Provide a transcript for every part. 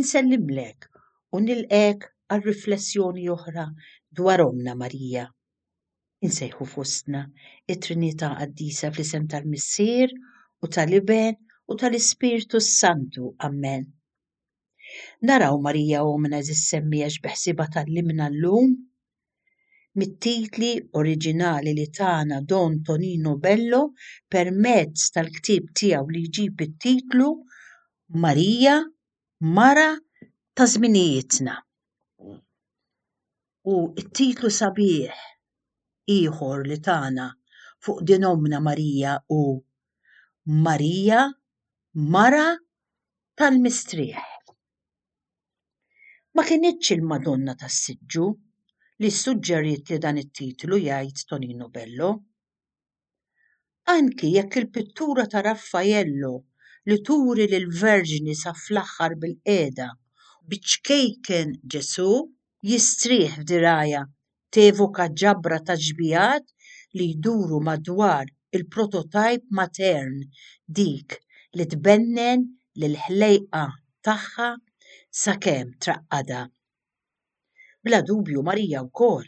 Insellimlek u nilqgħek għal riflessjoni oħra dwar Ommna Marija. Insejħu fostna t-Trinità Qaddisa fl-isem tal-Missier u tal-Iben u tal-Ispirtu s-Santu. Ammen. Naraw Marija Ommna Eżis Semmiegħa x'beħsiebha tgħallimna llum mit-titli oriġinali li tana Don Tonino Bello permezz tal-ktieb tiegħu li jġib it-titlu Marija, Mara ta' Żminijietna. U t-titlu sabiħ ieħor li tana fuq din ommna Marija hu Marija, Mara tal-Mistrieħ. Ma kinitx il-Madonna tas-Siġġu li ssuġġeriet li dan it-titlu jgħid Tonino Bello. Anki jekk il-pittura ta' Raffaello li turi lill-Verġni sa fl-aħħar bilqiegħda u biċ-ċkejken Ġesù jistrieħ f'dirgħajha tevoka ġabra ta' xbigħat li jduru madwar il-prototajp matern, dik li tbennen lill-ħlejqa tagħha sakemm traqqadha. Bla dubju Marija wkoll,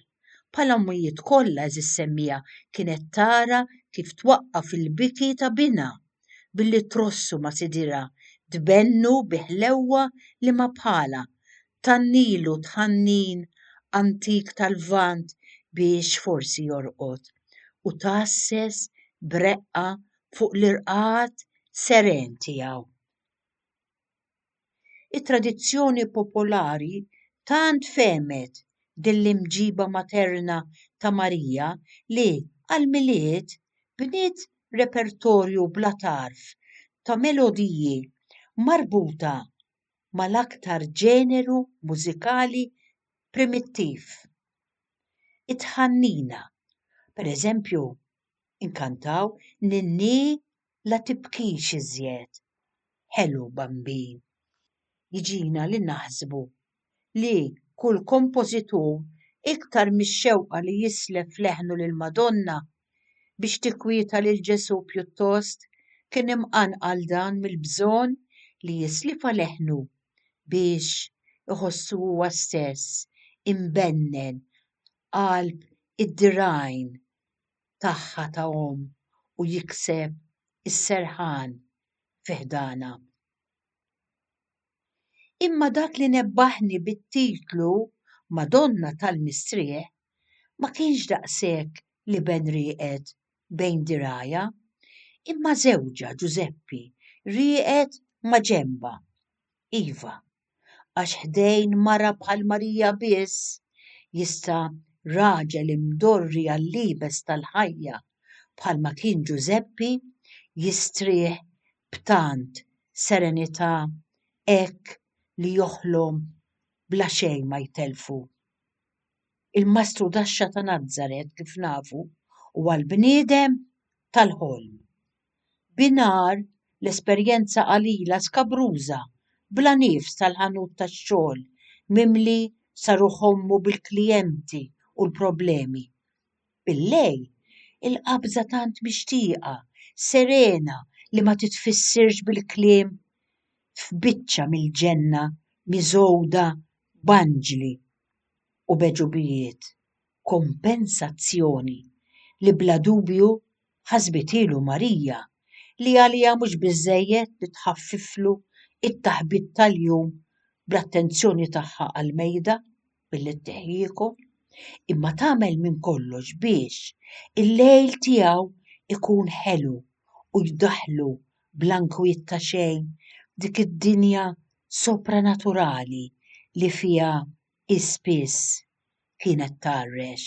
bħal ommijiet kollha eżis semmiegħa kienet tara kif twaqqaf il-biki ta' binha billi trossu ma' Sidirha, tbennu bi ħlewwa li ma bħalha, tannilu tħannin antik tal-Lvant biex forsi jorqod u tgħasses b'reqqa fuq l-irqad seren tiegħu. It-tradizzjoni popolari tant fehmet din l-imġiba materna ta' Marija li, għall-Milied, bniet repertorju bla tarf ta' melodiji marbuta mal-aktar ġeneru mużikali primittiv. It-tħannina, pereżempju, inkantaw Ninnì la tibkix iżjed, ħelu Bambin. Jiġina li naħsbu li kull kompożitur iktar mix-xewqa li jislef leħnu lill-Madonna Biex tikkwieta lil Ġesù pjuttost kien imqanqal dan mill-bżonn li jislifha leħnu biex iħossu huwa stess imbennen qalb id-dirgħajn tagħha ta' omm u jikseb is-serħan fi ħdanha. Imma dak li nebbaħni bit-titlu Madonna tal-Mistrieħ ma kienx daqshekk l-iben rieqed bejn dirgħajha, imma żewġha Ġużeppi rieqed ma' ġenbha. Iva, għax ħdejn mara bħal Marija biss jista' raġel imdorri għall-iebes tal-ħajja bħalma kien Ġużeppi jistrieħ b'tant serenità hekk li joħlom bla xejn ma jtellfu. Il-Mastru Daxxa ta' Nazaret kif nafu huwa l-bniedem tal-ħolm. Binhar l-esperjenza qalila skabruża bla nifs tal-ħanut tax-xogħol mimli saruh ommu bil-klijenti u l-problemi Billejl, il-qabża tant mixtieqa, serena li ma titfissirx bil-kliem f'biċċa mill-ġenna miżgħuda b'anġli u b'għeġubijiet, kompensazzjoni li bla dubju ħasbithielu Marija li għaliha mhux biżżejjed li tħaffiflu t-taħbit tal-jum bl-attenzjoni tagħha għall-mejda. billi tteħħieku, imma tagħmel minn kollox biex il-lejl tiegħu jkun ħelu u jdaħħlu bla nkwiet ta' xejn f'dik id-dinja sopranaturali li fiha hi spiss kienet tgħarrex.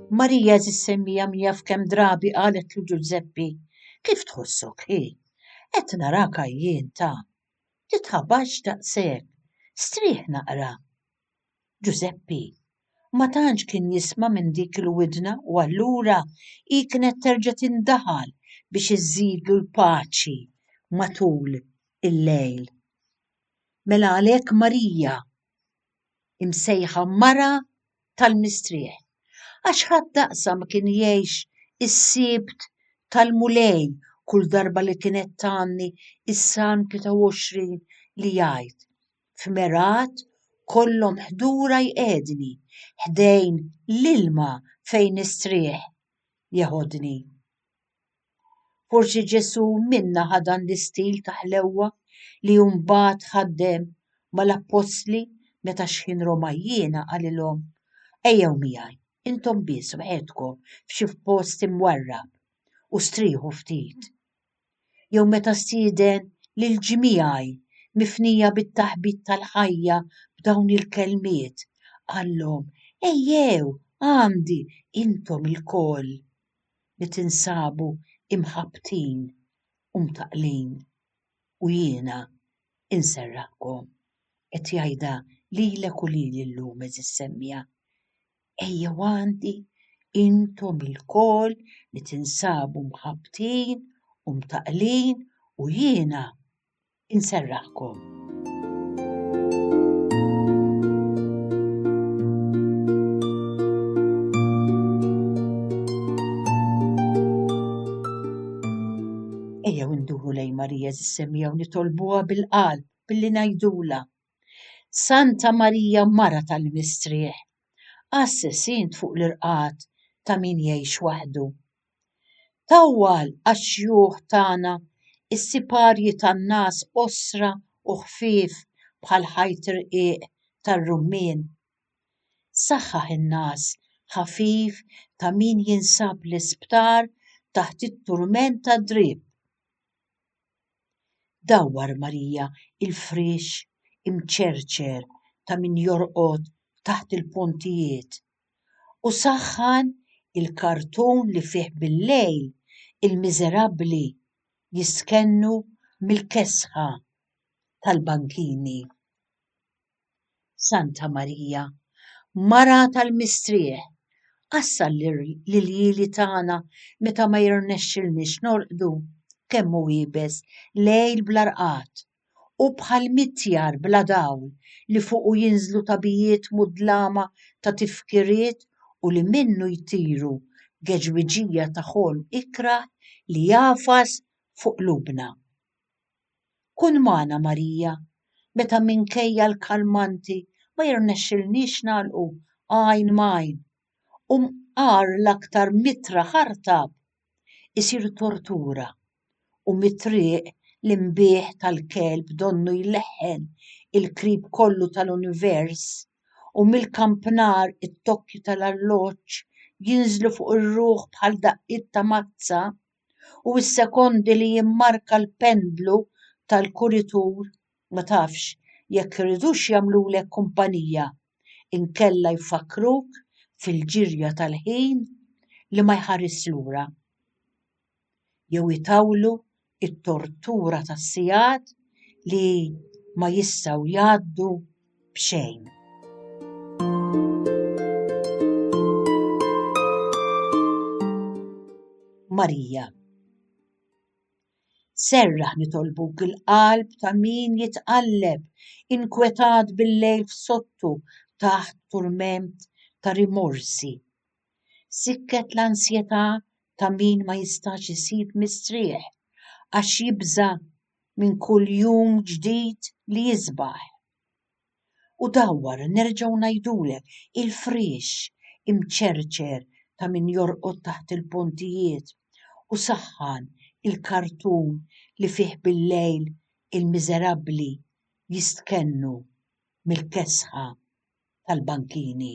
Marija żis-semmija min jaf kemm drabi qaletlu Ġużeppi, Kif tħossok hi? Qed narak għajjien ta'. Titħabax daqshekk. Strieħ naqra. Ġużeppi ma tantx kien jisma' minn dik il-widna u allura hi kienet terġa' tindaħal biex iżżidlu l-paċi matul il-lejl. Mela għalhekk Marija imsejħa mara tal-mistrieħ, għax ħadd daqsha ma kien jgħix is-Sibt tal-Mulej kull darba li kienet tgħanni s-Salm 23 li jgħid, F'mergħat kollhom ħdura jqiegħdni, ħdejn l-ilma fejn nistrieħ jeħodni. Forsi Ġesù minna ħa dan l-istil ta' ħlewwa li mbagħad ħaddem mal-appostli meta xħin Romajjiena qalilhom ejjew miegħi intom biss waħedkom f'xi post imwarrab u strieħu ftit. Jew meta stieden lil ġmiegħi mifnija bit-taħbit tal-ħajja b'dawn il-kelmiet qallhom ejjew għandi intom ilkoll. li tinsabu imħabbtin u mtaqqlin u jiena inserraħkom, qed jgħidha lilek u lili llum, għeżież semmiegħa, ejjew għandi intom ilkoll li tinsabu mħabbtin u mtaqqlin u jiena inserrahkom. Ejjew induru lejn Marija żissemmija u nitolbuha bil-qalb billi ngħidula. Santa Marija Mara tal-Mistrieħ, assessint fuq l-irqad ta' min jgħix waħdu. Tawwal għax-xjuħ tagħna s-siparji tan-ngħas qosra u ħfief bħal ħajt rqiq tar-rummien. Saħħaħ in-ngħas ħafif ta' min jinsab l-isptar taħt it-turment tad-drieb. Dawwar Marija l-friex imċerċer ta' min jorqod taħt il-pontijiet u saħħan il-kartun li fih billejl il-miżerabbli jistkennu mill-kesħa tal-bankini. Santa Marija, Mara tal-mistrieħ, għassa l-irjieli tagħna meta ma jirnexxilniex norqdu, kemm hu iebes lejl bla rqad, Hu bħal mitjar bla dawl li fuqu jinżlu tagħbijiet mudlama ta' tifkiriet u li minnu jtiru geġwiġija ta' ħolm ikrah li jagħfas fuq qlubna. Kun magħna Marija meta minkejja l-kalmanti ma jirnexxilniex nagħlqu għajn m'għajn u mqar l-aktar mitra ħartab isir tortura u mit-triq l-inbih tal-kelb donnu jleħħen il-qrib kollu tal-univers, u mill-kampnar it-tokki tal-arloġġ jinżlu fuq ir-ruħ bħal daqqiet ta' mazza, u s-sekondi li jimmarka l-pendlu tal-kuritur, ma tafx jekk iridux jagħmlulek kumpanija inkella jfakkruk fil-ġirja tal-ħin li ma jħarisx lura. jew itawlu t-tortura ta' sigħat li ma jistgħu jgħaddu b'xejn. Marija Serraħ nitolbuk il-qalb ta' min jitqalleb, inkwetat bil-lejl f'sottu taħt turment ta' rimorsi Sikket l-ansjetà ta' min ma jistax isib mistrieħ għax jibża' minn kull jum ġdid li jisbaħ. U dawwar nerġgħu ngħidulek il-friex imċerċer ta' min jorqod taħt il-pontijiet u saħħan il-kartun li fih billejl il-miżerabbli jistkennu mill-kesħa tal-bankini.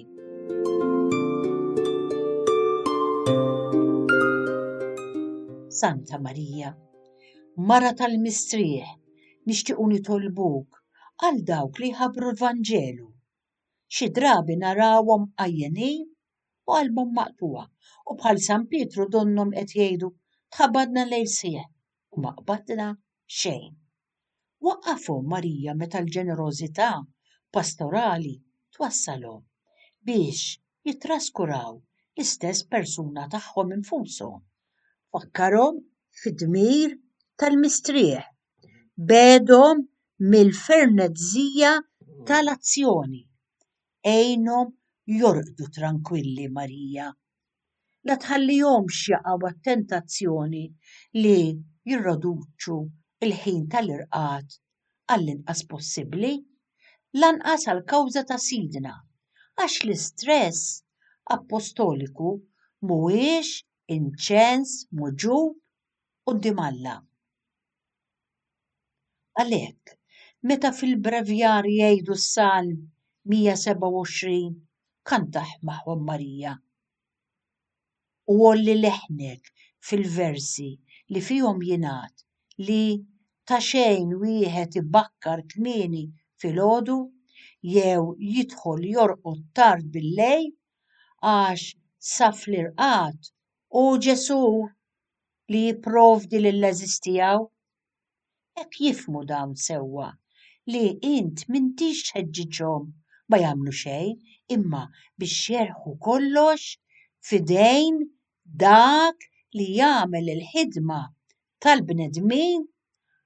Santa Marija, Mara tal-mistrieħ, nixtiequ nitolbuk għal dawk li jħabbru l-Vanġelu. Xi drabi narawhom għajjenin u qalbhom maqtuha u bħal San Pietru donnhom qed jgħidu tħabadna lejl sieħ u ma qbadna xejn. Waqqafhom Marija meta l-ġenerożità pastorali twassalhom biex jittraskuraw l-istess persuna tagħhom infushom. Fakkarhom fid-dmir tal-mistrieħ. Begħedhom mill-fernezzija tal-azzjoni. Għinhom jorqdu trankwilli, Marija. la tħallihomx jaqgħu għat-tentazzjoni li jirroduċu l-ħin tal-irqad għall-inqas possibbli, lanqas għall-kawża ta' Sidna, għax l-istress appostoliku mhuwiex inċens muġugħ quddiem Alla. Għalhekk, meta fil-Brevjar jgħidu s-Salm 127 kantaħ magħhom Marija u għolli leħnek fil-versi li fihom jingħad li ta' xejn wieħed ibakkar kmieni filgħodu jew jidħol jorqod tard bil-lejl għax sa fl-irqad hu Ġesù. li jipprovdi lill-għeżież tiegħu? Hekk jifhmu dawn sewwa li int m'intix tħeġġiġhom ma jagħmlu xejn imma biex jerħu kollox f'idejn dak li jagħmel il-ħidma tal-bnedmin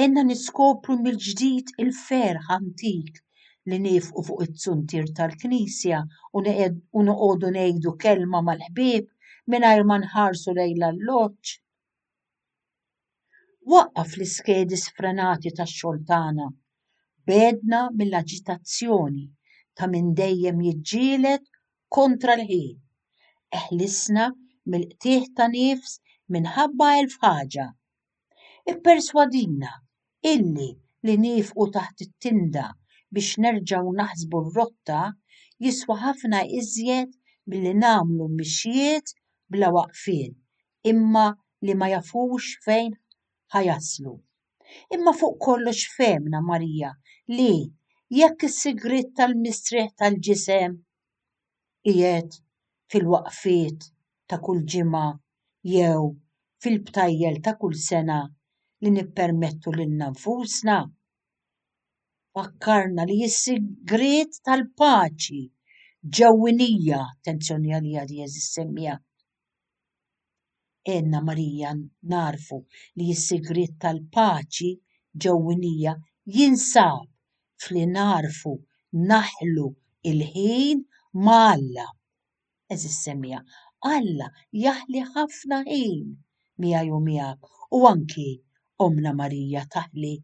Għenna niskopru mill-ġdid il-ferħ antik li niefqu fuq it-zuntier tal-knisja u noqogħdu ngħidu kelma mal-ħbieb mingħajr ma nħarsu lejn l-alloġġ. Waqqaf l-iskedi sfrenati tax-xogħol tagħna. B'għedna mill-aġitazzjoni ta' min dejjem jiġġieled kontra l-ħin. Eħlisna mill-qtigħ ta' nifs minħabba elf ħaġa. Ipperswadina illi li niefqu taħt it-tinda biex nerġgħu naħsbu r-rotta jiswa ħafna iżjed milli nagħmlu mixjiet bla waqfien imma li ma jafux fejn ħa jaslu. Imma fuq kollox fehmna Marija li jekk is-sigriet tal-mistrieħ tal-ġisem, qiegħed fil-waqfiet ta' kull ġimgħa jew fil-btajjel ta' kull sena li nippermettu lilna nfusna? Fakkarna li s-sigriet tal-paċi ġewwinija, attenzjoni għaliha di eżis semmija, Għenna Marija nagħrfu li s-sigriet tal-paċi ġewwinija jinsab f'li nagħrfu naħlu l-ħin ma' Alla. Għeżież semmiegħa, Alla jaħli ħafna ħin miegħi u miegħek u anki Ommna Marija taħli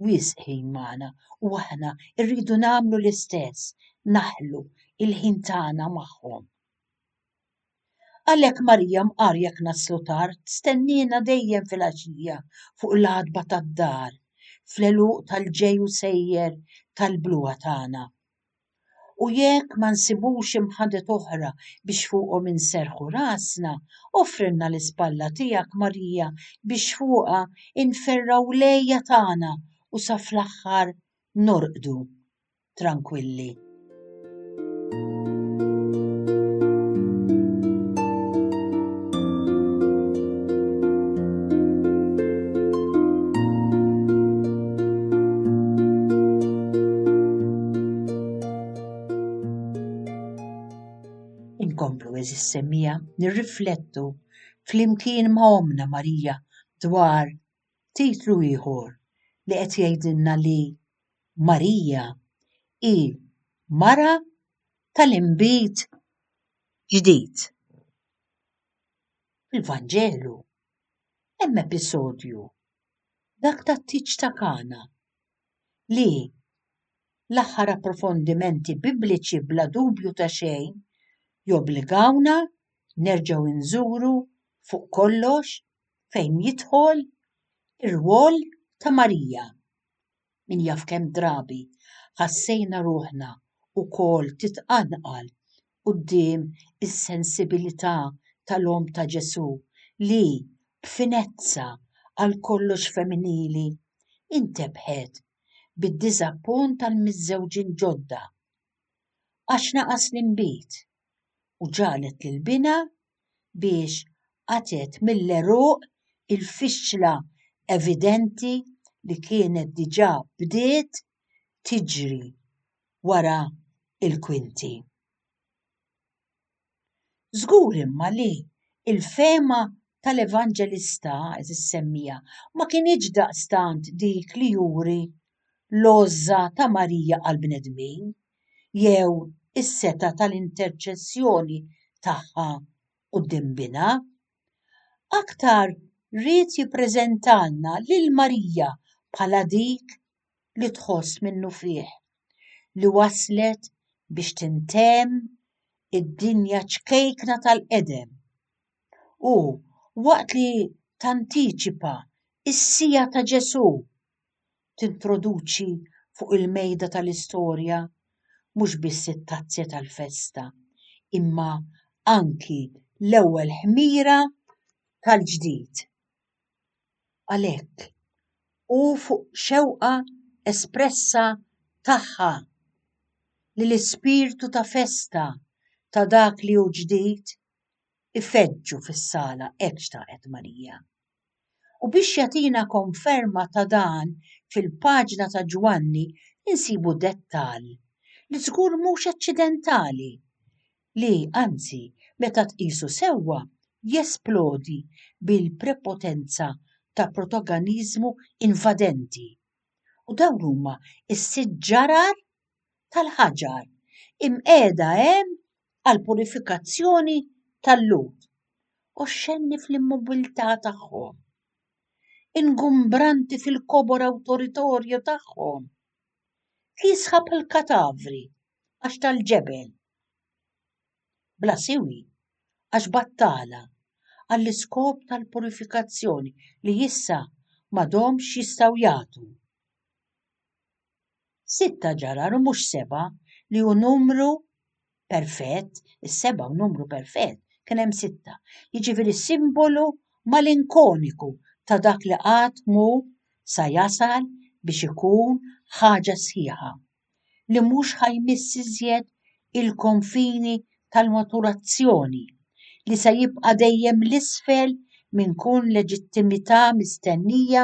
wisq ħin magħna u aħna rridu nagħmlu l-istess, naħlu l-ħin tagħna magħhom. Għalhekk Marija mqar jekk naslu tard, stenniena dejjem fil-għaxija fuq l-għatba tad-dar, fl-għeluq tal-ġej u sejjer tal-bluha tagħna. U jekk ma nsibux imħadet oħra biex fuqhom inserrħu rasna, offrilna l-ispalla tiegħek Marija biex fuqha nferrgħu l-għeja tagħna u sa fl-aħħar norqdu. trankwilli. Inkomplu eżis semmija nirriflettu flimkien ma' Omna Marija dwar titlu ieħor li qed jgħidilna li Marija hi mara tal-inbid ġdid. Fil-Vanġelu hemm episodju, dak tat-tieġ ta' Kana, li l-aħħar approfondimenti Bibliċi bla dubju ta' xejn jobbligawna nerġgħu nżuru fuq kollox fejn jidħol ir-rwol ta' Marija. Min jaf kemm drabi ħassejna ruħna wkoll titqanqal quddiem is-sensibilità tal-Omm ta' Ġesù li, b'finezza għal kollox femminili, intebħet bid-diżappunt tal-miżżewġin ġodda għax naqas l-inbid u ġagħlet lil binha biex qatgħet mill-għeruq il-fixla evidenti li kienet diġà bdiet tiġri wara l-kwinti. Żgur imma li l-fehma tal-Evanġelista, eżis semmija, ma kinitx daqstant dik li juri l-għożża ta' Marija għall-bnedmin jew is-setgħa tal-interċessjoni tagħha quddiem Binha. Aktar ried jippreżentalna lil Marija bħala dik li tħoss minnufih li waslet biex tintemm id-dinja ċkejkna tal-qedem u, waqt li tantiċipa s-siegħa ta' Ġesù, tintroduċi fuq il-mejda tal-istorja mhux biss it-tazzja tal-festa imma anki l-ewwel ħmira tal-ġdid. Għalhekk, hu fuq xewqa espressa tagħha li l-ispirtu ta' festa ta' dak li hu ġdid ifeġġu fis-sala hekk xtaqet Marija. U biex jagħtina konferma ta' dan fil-paġna ta' Ġwanni insibu dettall li żgur mhux aċċidentali, li, anzi, meta tqisu sewwa, jesplodi bil-prepotenza ta' protoganiżmu invadenti. U dawn huma s-sitt ġarar tal-ħaġar imqiegħda hemm għall-purifikazzjoni tal-lut oxxenni fl-immobilità tagħhom, ingumbranti fil-kobor awtoritorju tagħhom, li jisħab il-katavri għax tal-ġebel, bla siwi għax battala, għall-iskop tal-purifikazzjoni li issa m'għadhomx jistgħu jagħtu. Sitta ġarar u mhux seba' li hu numru perfett, is-seba' hu numru perfett, kien hemm sitta. Jiġifieri simbolu malinkoniku ta' dak li qatt mhu sa jasal biex ikun ħaġa sħiħa, li mhux ħa jmiss iżjed il-konfini tal-maturazzjoni, li se jibqa' dejjem 'l isfel minn kull leġittimità mistennija.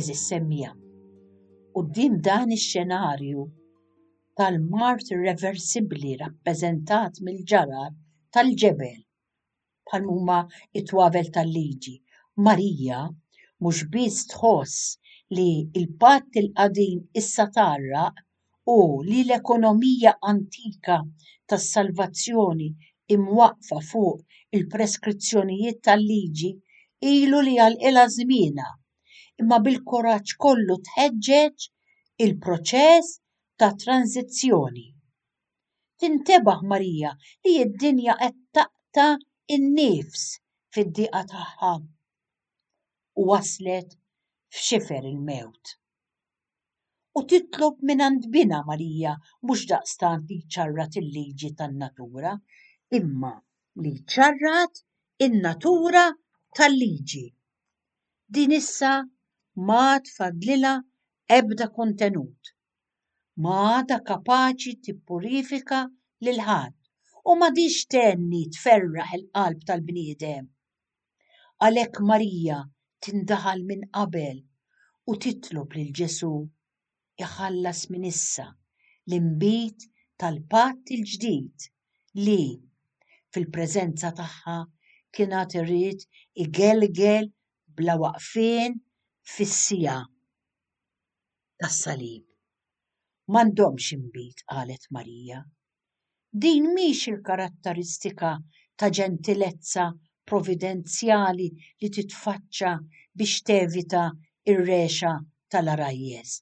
Eżis semmija. U din dan ix-xenarju tal-mart irreversibbli rappreżentat mill-ġarar tal-ġebel bħal huma t-twavel tal-liġi. Marija mhux biss tħoss li l-patt il-qadim issa tgħarraq u li l-ekonomija antika tas-salvazzjoni imwaqqfa fuq il-preskrizzjonijiet tal-liġi ilu li għalqilha żmienha, imma bil-kuraġġ kollu tħeġġeġ il-proċess ta' tranżizzjoni. Tintebaħ Marija li d-dinja qed taqta' n-nifs fid-diqa tagħha u waslet f'xifer il-mewt. U titlob mingħand Binha Marija mhux daqstant li jċarrat il-liġi tan-natura, imma li jċarrat in-natura tal-liġi. Din issa m'għad fadlilha ebda kontenut. ma għadha kapaċi tippurifika lil ħadd u m'għadhiex tenni tferraħ il-qalb tal-bniedem. Għalhekk Marija tindaħal minn qabel u titlob lil Ġesù iħallas minn issa l-inbid tal-patt il-ġdid li, fil-preżenza tagħha, kien għad irid igelgel bla waqfien fis-siegħa. tas-salib. M'għandhomx inbid, qalet Marija. Din mhix il-karatteristika ta' ġentilezza providenzjali li titfaċċa biex tevita r-regħxa tal-għarajjes,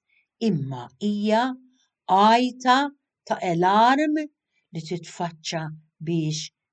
imma hija għajta ta' elarm li titfaċċa biex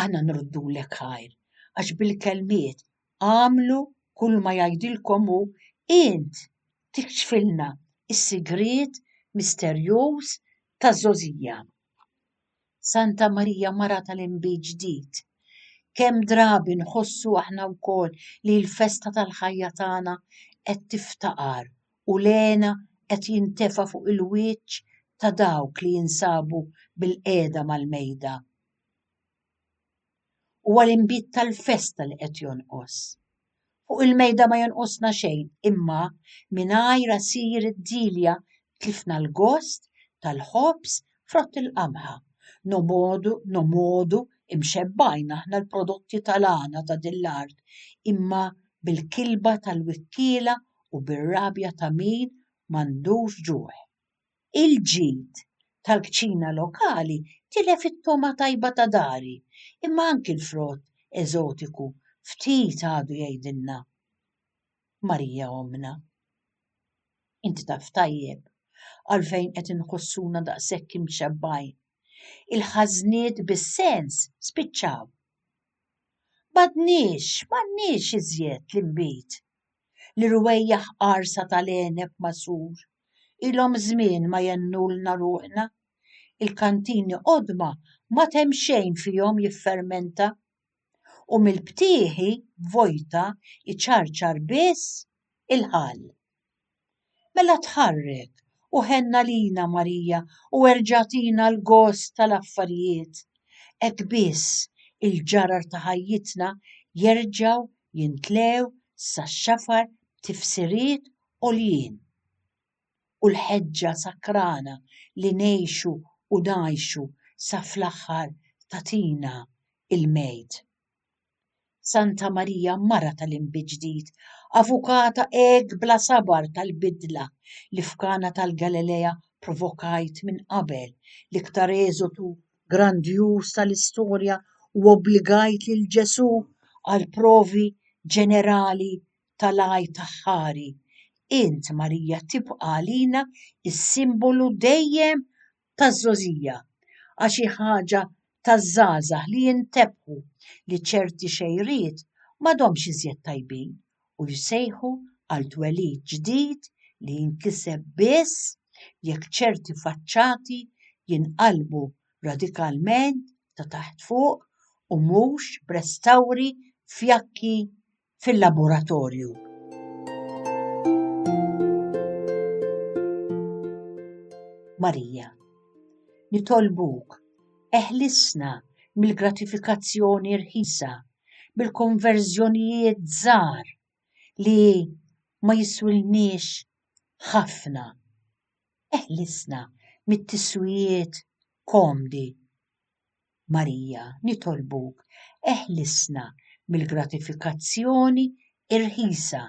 Aħna nruddulek ħajr, għax bil-kelmiet agħmlu kull ma jgħidilkom hu, int tikxfilna s-sigriet misterjuż ta' żgħożija. Santa Marija Mara tal-Inbid Ġdid, kemm drabi nħossu aħna wkoll li l-festa tal-ħajja tagħna qed tiftaqar u l-hena qed jintefa' fuq il-wiċċ ta' dawk li jinsabu bilqiegħda mal-mejda. Huwa l-inbid tal-festa li qed jonqos. Fuq il-mejda ma jonqosna xejn, imma mingħajr għasir id-dilja tlifna l-gost tal-ħobż frott il-qamħa. Nomodu, nomodu imxebbgħin aħna l-prodotti tal-għana ta' din l-art, imma bil-kilba tal-wikkiela u bir-rabja ta' min m'għandux ġuħ. Il-ġid tal-kċina lokali tilef it-togħma tajba ta' dari, imma anki l-frott eżotiku ftit għadu jgħidilna, Marija ommna, inti taf tajjeb għalfejn qed inħossuna daqshekk imxebbgħin. Il-ħażniet bis-sens spiċċaw. M'għadniex, m'għandniex iżjed l-inbid li rwejjaħ qarsa tal-għeneb magħsur ilhom żmien ma jennulna ruħna, il-kantini qodma m'għad hemm xejn fihom jiffermenta, u mill-btieħi vojta jċarċar biss il-ħall. Mela tħarrek u ħenn għalina Marija u erġa' agħtina l-gost tal-affarijiet. Hekk biss il-ġarar ta' ħajjitna jerġgħu jintlew sax-xafar b'tifsiriet għoljin. U l-ħeġġa sakrana li ngħixu u ngħajxu sa fl-aħħar tagħtina il-Mejt. Santa Marija mara tal-inbid ġdid, avukata hekk bla sabar tal-bidla li f'Kana tal-Galilea provokajt minn qabel, l-iktar eżodu grandjuż tal-istorja u obbligajt lil Ġesù għal provi ġenerali tal-għajt aħħari, int Marija tibqa' għalina s-simbolu dejjem taż-żgħożija għax hi ħaġa taż-żgħażagħ li jintebħu li ċerti xejriet m'għadhomx iżjed tajbin u jsejħu għal twelid ġdid li jinkiseb biss jekk ċerti faċċati jinqalbu radikalment ta' taħt fuq u mhux b'restawri fjakki fil-laboratorju. Marija, nitolbuk, eħlisna mill-gratifikazzjoni rħisa, mill-konverżjonijiet żgħar li ma jiswilniex ħafna. Eħlisna mit-tiswijiet komdi. Marija, nitolbuk, eħlisna mill-gratifikazzjoni irħisa,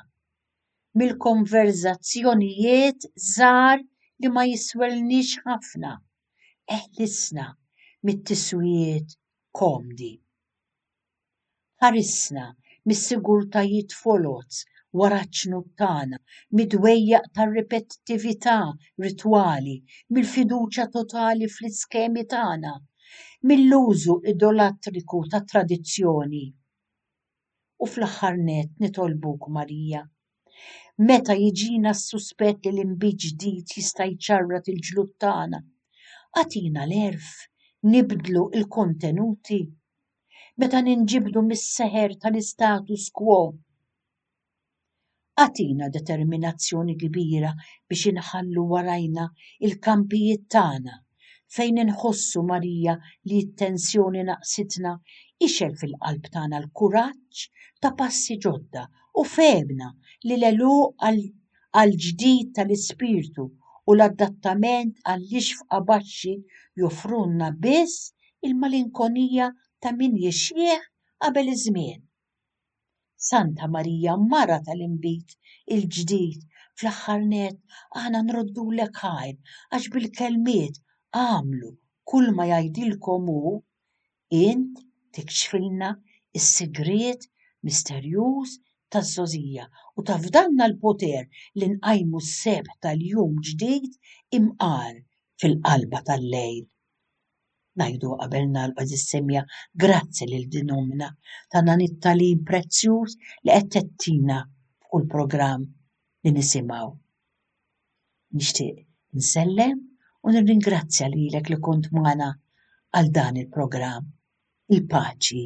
mill-konverżazzjonijiet żgħar li ma jiswelniex ħafna, eħlisna mit-tiswijiet komdi. Ħarisna mis-sigurtajiet foloz wara ċ-ċnut tagħna, mid-dwejjaq tar-ripetittività ritwali, mill-fiduċja totali fl-iskemi tagħna, mill-użu idolatriku tat-tradizzjoni. U fl-aħħar nett nitolbuk, Marija, meta jiġina s-suspett li l-inbid ġdid jista' jċarrat il-ġlud tagħna, agħtina l-għerf nibdlu l-kontenuti. meta ninġibdu mis-seħer tal-istatus quo. Agħtina determinazzjoni kbira biex inħallu warajna il-kampijiet tagħna fejn inħossu Marija li t-tensjoni naqsitna ixel fil-qalb tagħna l-kuraġġ ta' passi ġodda u fehemna li l-għeluq għall-ġdid tal-ispirtu u l-adattament għall-ixfqa baxxi joffrulna biss il-malinkonija ta' min jixjieħ qabel iż-żmien. Santa Marija mara tal-inbid il-ġdid fl-aħħar nett aħna nroddulek ħajr għax bil-kelmiet agħmlu kull ma jgħidilkom hu, int tikxfilna s-sigriet misterjuż taż-żgħożija u tafdalna l-poter li nqajmu s-sebħ tal-jum ġdid imqar fil-qalba tal-lejl. ngħidu qabel nagħlqu din is-semmiegħa grazzi lil din ommna ta' dan it-tagħlim prezzjuż li qed tettina f'kull programm li nisimgħu. Nixtieq nsellem u nirringrazzja lilek li kont magħna għal dan il-programm. Il-paċi